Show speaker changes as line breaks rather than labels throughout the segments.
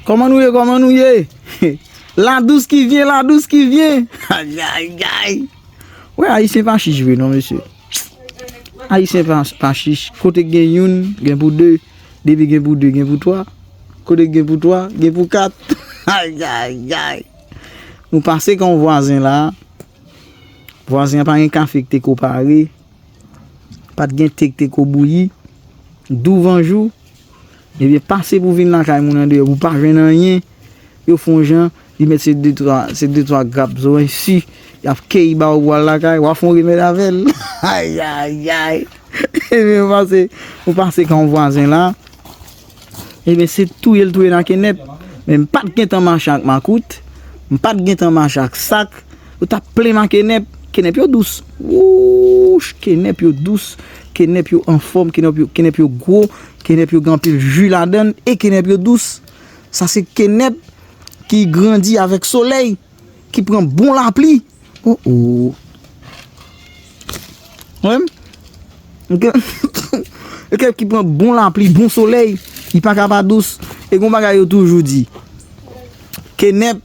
Koman nou ye koman nou ye La dous ki vyen la dous ki vyen Ayayy gay Wè ayisyen pa chich vre non mesye Ayisyen pa chich Kote gen youn gen pou 2 Depi gen pou 2 gen pou 3 Kote gen pou 3 gen pou 4 Ayayy gay Nou pase kan yon vwazen la Vwazen an pa gen kafe ki te ko pare Pat gen te ki te ko bouyi Douvanjou Ebyen pase pou vin lakay moun andeyò pou pa jwenn anyen, yo fon jan, li mèt se de twa, se de twa grap zowen si, yap keyi ba ou pou al lakay, wa fon remèd avèl. Ayayayy! Ebyen ou pase, ou pase kan yon vwazen la, ebyen se touye l touye nan kenèp, men m pat gentan mache ak makout, m pat gentan mache ak sak. Yo tap plen nan kenèp. Kenèp yo dous. Wouuch! Kenèp yo dous. Kenèp yo anfòm. Kenèp yo gwo. Kenèp yo gen anpil ju ladan. E kenèp yo dous. Sa se kenèp ki grandi avèk solèy. Ki pran bon lapli. O o! Wè m? M gen. E kenèp ki pran bon lapli, bon solèy. Li pa ka pa dous. E gen yon bagay yo toujou di. Kenèp.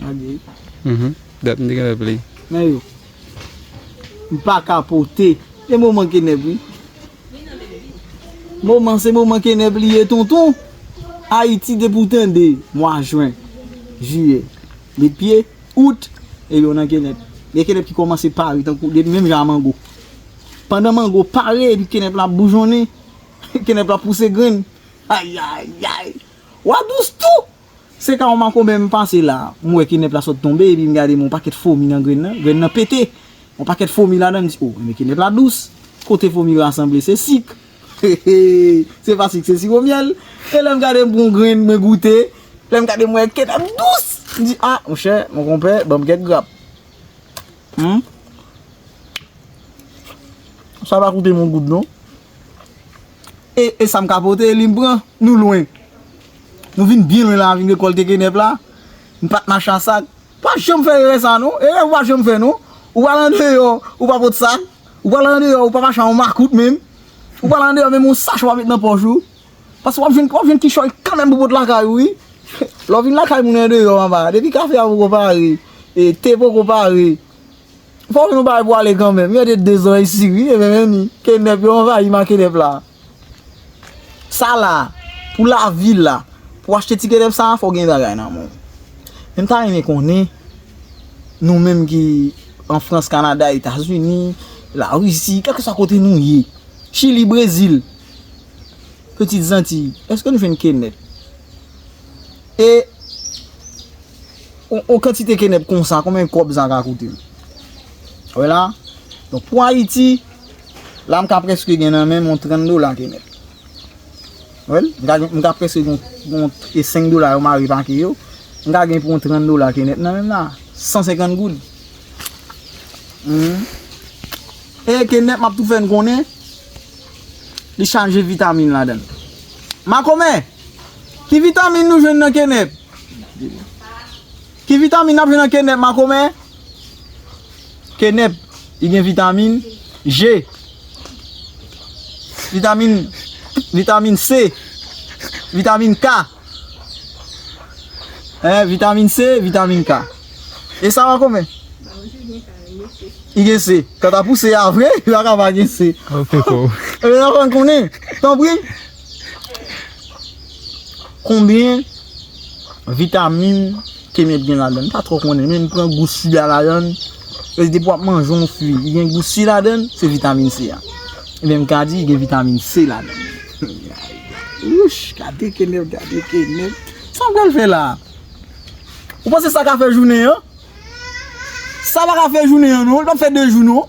Gade. Dat m te gentan play. Nan yo.
M paka pote. E moman kenèp wi. Moman se moman kenèp li ye tonton. Ayiti depi w tande mwa jwen, jiyè, li pye, out, e yo nan kenèp. Gen kenèp ki kòmanse pare tankou depi menm jan a mango. Pandan mango pare epi kenèp la ap boujonnen, kenèp la ap pouse grenn. Ayayay! Wa dous tou! Se ka yon makonbè m pase la, m wè kenèp la sot tonbe epi m gade m yon pakèt fomi nan grenn nan, grenn nan pete! Yon pakèt fomi ladan l, m di o, men kenèp la dous! Kote fomi yo asanble se sik! Hehee! Se pa sik se siwo myèl! E lè m gade m pran yon grenn mwen goute, lè m gade m wè kenèp dous! M di a, monchè, monkonpè, ban m kèk grap! Humm! Sa pa koute m yon goud non! E e sam ka pote li m pran Nou lwen Nou vin byen lwen la vin rekolte kenèp la Nou pat mache a sak Pa janm fè erè sa non Erè ou pa janm fè non Ou pral andeyò ou pa pot sak Ou pral andeyò ou pa mache a yon makout menm Ou pral andeyò menm yon sach ou pa met nan pòch ou Paske wap jwenn wap jwenn kichòy kanmenm pou pot lakay ou wi Lè w vin lakay moun andeyò anba Depi kafe a poko pare E te poko pare Fok nou bay pou ale kanmenm. Yo de 2 zòrèy si wi e menm ni. Kenèp yo anvayi ma kenèp la. Sa la pou la vil la. Pou achte ti kenèp sa fok gen bagay nan menw. Menm ta renmen konnen nou menm ki an frans kanada etazini la risi kèlke sa kote nou ye. Chili brezil. Petit zanti. Eske nou jwenn kenèp. E. On kantite kenèp konsa, konbyen kòb sa ka koute m? Ou wè la? Donk pou Ayiti, la m ka prèske gen nan men m on 30 dola kenèp. Ou wè l? M ka prèske gen on 5 dola yo mare pake yo, m ka gen pou on 30 dola kenèp nan men m la. 150 goud. E kenèp m ap tou fè n konnen, li chaje vitamin ladan l. Makomè! Ki vitamin nou jwenn nan kenèp? Ki vitamin nap jwenn nan kenèp makomè? Kenèp li gen vitamin G Vitamin Vitamin C Vitamin K Hein vitamin C vitamin K E sa makomè? Li gen C Kanta pou C a vre li paka pa gen C
Ou peko Ou peko
Tanpri Konbyen vitamin ke mèt gen ladann? M pa tro konnen men m pran gou si a ladann. Pèske depi w ap manje yon fwi ki gen gou si ladann, se vitamin C a. Ebyen m ka di gen vitamin C ladann. Wouch! Gade kenèp, gade kenèp. Sa w pral fè la a? Ou panse sa ka fè jounen an? Sa pa ka fè jounen an non. Li pa p fè 2 jou non.